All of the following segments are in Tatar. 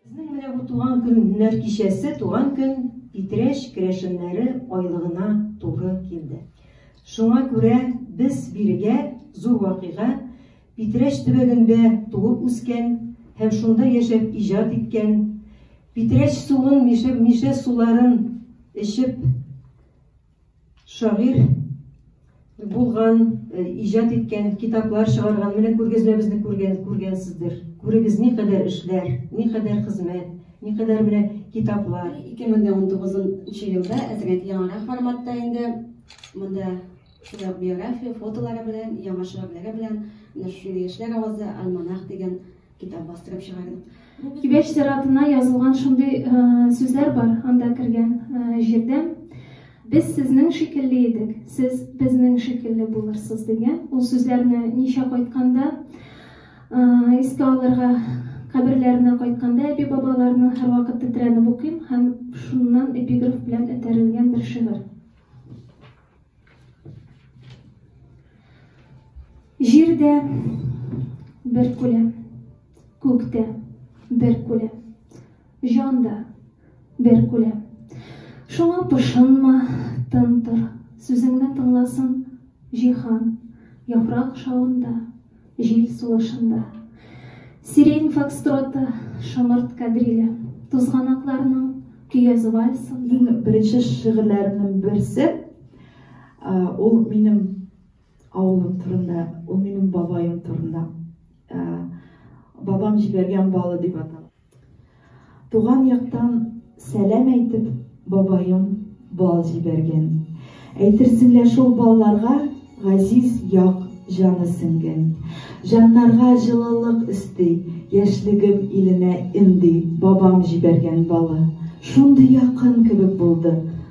Безнең менә бу туган көннәр кичәсе, туган көн Питрәч керәшеннәре айлыгына туры килде. Шуңа күрә без бирегә зур вакыйга Питрәч төбәгендә туып үскән һәм шунда яшәп иҗат иткән, Питрәч суын, Мишә, Мишә суларын эчеп Шагыйрь булган, э, иҗат иткән, китаплар чыгарган, менә күргәзмәбезне күргән, күргәнсездер. Күрегез, ни кадәр эшләр, ни кадәр хезмәт, ни кадәр менә китаплар. 2019 елда әзрәк яңарак форматта инде монда шулай биография, фотолары белән, яңа шигырьләре белән, менә шундый яшьләр авазы, альманах дигән Китап бастырып чыгардык. Кибәч сиратына язылган шундый сүзләр бар, анда кергән җирдә без сезнең шикелле идек, сез безнең шикелле булырсыз дигән. Ул сүзләрне ничә кайтканда искә алырга каберләренә кайтканда әби бабаларның һәрвакыт тетрәнеп укыйм һәм шуннан эпиграф белән этәрелгән бер шигырь. Җирдә бер күләм, күктә бер күләм, җанда бер күләм. Шуңа пошынма, тын тор, сүзеңне тыңласын җиһан, яфрак шавында, Җил сулышында. Сирень фокстроты, шомырт кадриле. Тузганакларның көяз вальсы. Иң беренче шигырьләремнең берсе, ул минем авылым турында, ул минем бабаем турында. Бабам җибәргән балы дип атала. Туган яктан сәлам әйтеп, бабаем бал җибәргән. Әйтерсең лә шул балларга газиз як җаны сеңгән. Җаннарга җылылык өсти, яшьлегем иленә энди бабам җибәргән балы. Шундый якын кебек булды.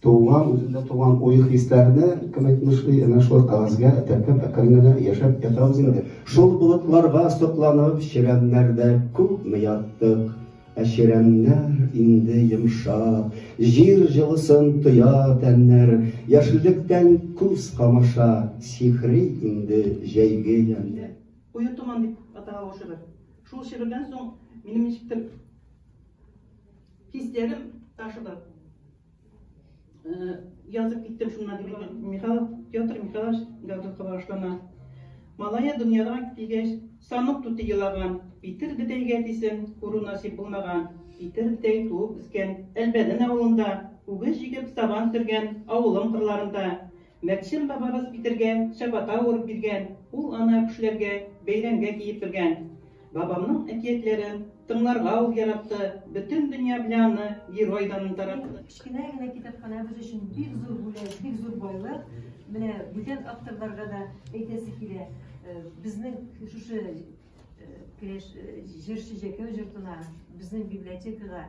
Туган, үзендә туган уй-хисләрне кем әйтмешли, әнә шулай кәгазьгә теркәп әкрен генә яшәп ятабыз инде. Шул болытларга сокланып, чирәмнәрдә күпме яттык. Ә чирәмнәр инде йомшап, җир җылысын тоя тәннәр, яшеллектән күз камаша, сихри инде җәйге ямьнәр. Куе томан дип атала ул шигырь. Шул шигырьдән соң минем ничектер хисләрем ташыды. Язып киттем шунда дип әйтә. Михайлов Петр Михайлович Гаврилка башлана. Малая дөньяга килгәч, санык тути елаган, Питер бетәйгә дисен, күрү насип булмаган. Питер бетәй туып үскән, Әлбәден авылында, үгез җигеп сабан сөргән, авылым кырларында. Мәкчем бабабыз Питергә чабата урып биргән, ул ана кешеләргә бәйрәмгә киеп биргән. Бабамның әкиятләрен тыңларга ул яратты, бөтен дөнья белән аны герой данын таратты. Кечкенә генә китапханәбез өчен бик зур бүләк, бик зур байлык. Менә бүтән авторларга да әйтәсе килә, э, безнең шушы э, керәш э, җырчы Җәкәү җортына, безнең библиотекага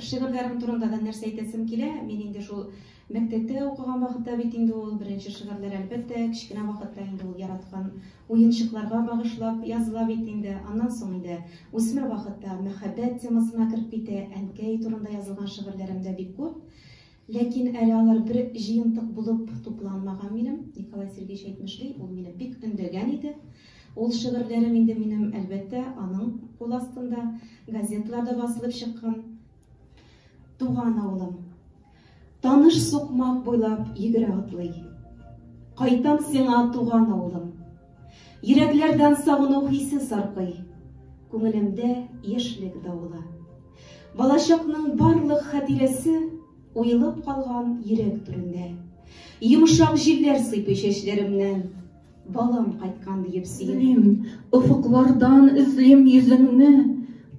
Шигырьләрең турында да нәрсә әйтәсем килә, мин инде шул мәктәптә укыган вакытта бит инде ул беренче шигырьләр, әлбәттә, кечкенә вакытта инде ул яраткан уенчыкларга багышлап языла бит инде, аннан соң инде үсмер вакытта мәхәббәт темасына кереп китә, әнкәй турында язылган шигырьләрем дә бик күп. Ләкин әле алар бер җыентык булып тупланмаган минем, Николай Сергеевич әйтмешли, ул мине бик өндәгән иде. Ул шигырьләрем инде минем, әлбәттә, аның кул астында, газеталарда басылып чыккан. Туган авылым. Таныш сукмак буйлап йөгерә атлый. Кайтам сиңа, туган авылым. Йөрәкләрдән сагыну хисе саркый, күңелемдә яшьлек давылы. Балачакның барлык хатирәсе уелып калган йөрәк түрендә. Йомшак җилләр сыйпый чәчләремнән, балам кайткан диеп сөйлим. Офыклардан эзлим йөзеңне,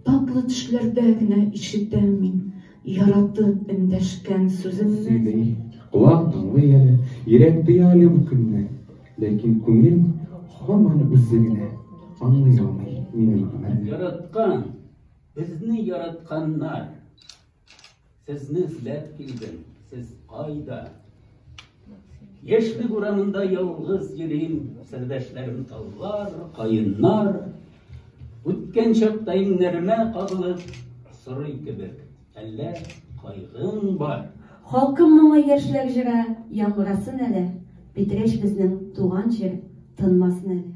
татлы төшләрдә генә ишетәм мин яратып эндәшкән сүзеңне. Сөйли, колак тыңлый әле, йөрәк тоя әле бу көнне. Ләкин күңел һаман үзе генә аңлый алмый минем гомерне. Яраткан, безне яратканнар, сезне эзләп килдем, сез кайда? Яшьлек урамында ялгыз йөрим, сердәшләрем таллар, каеннар. Үткән чакта иңнәремә кагылып, сорый кебек. Әллә кайгың бар? Халкым моңы яшьләр җыры Яңгырасын әле, Питрәч безнең туган җир Тынмасын әле.